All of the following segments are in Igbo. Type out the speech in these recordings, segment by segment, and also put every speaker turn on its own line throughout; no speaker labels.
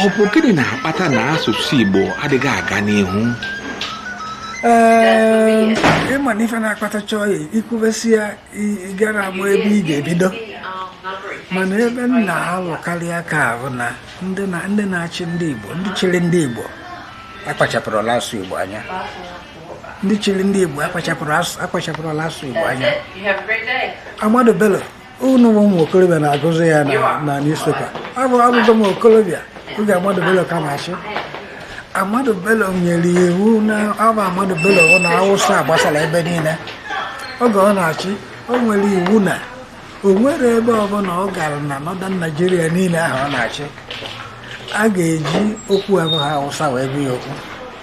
ọ bụ gịnị na-akpata na asụsụ Igbo adịghị aga n'ihu ee
ịma na ife na-akpatacha ya i kwubesie ya ị garọ ama ebe ị ga-ebido mana ebe m na-alụkarị aka bụ na ndị na-achị ndị Igbo ndị chịrị ndị Igbo akpachapụrọlụ asụsụ Igbo anya ndị chịrị ndị Igbo akpachapụrọlụ asụsụ Igbo anya Ahmadu Bello unu bụ ụmụ okorobịa na-agụzi ya na newspaper abụ abụgo m okorobịa oge Ahmadu Bello ka na-achị Ahmadu Bello nyere iwu na abụ Ahmadu Bello na Awụsa gbasara ebe niile oge ọ na-achị o nwere iwu na o nwerọ ebe ọbụla ọ gara na Northern Nigeria niile ahụ ọ na-achị a ga-eji okwu abụghị Awụsa wee gwa ya okwu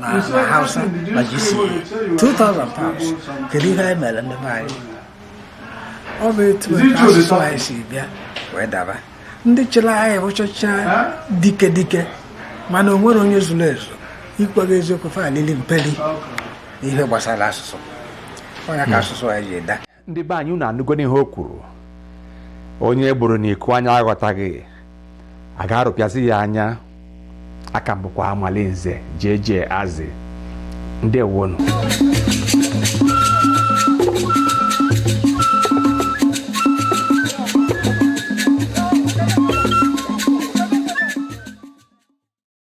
na na hausa na GCE 2000 pounds kedu ihe anyị mere ndị be anyị ọ bụ etu a ka asụsụ anyị si bịa wee daba ndị chịrị anyị bụchacha dike dike mana o nwerọ onye zuru ezu ikwu eziokwu fa lili mperi n'ihe gbasara asụsụ ọ ya ka asụsụ anyị ji ada ndị be anyị unu
anụgonụ ihe o kwuru onye e gbuuru n'iku anya aghọtaghị a ga-arụpịazi ya anya a ka m bụkwa Amalinze jeje azị ndewonu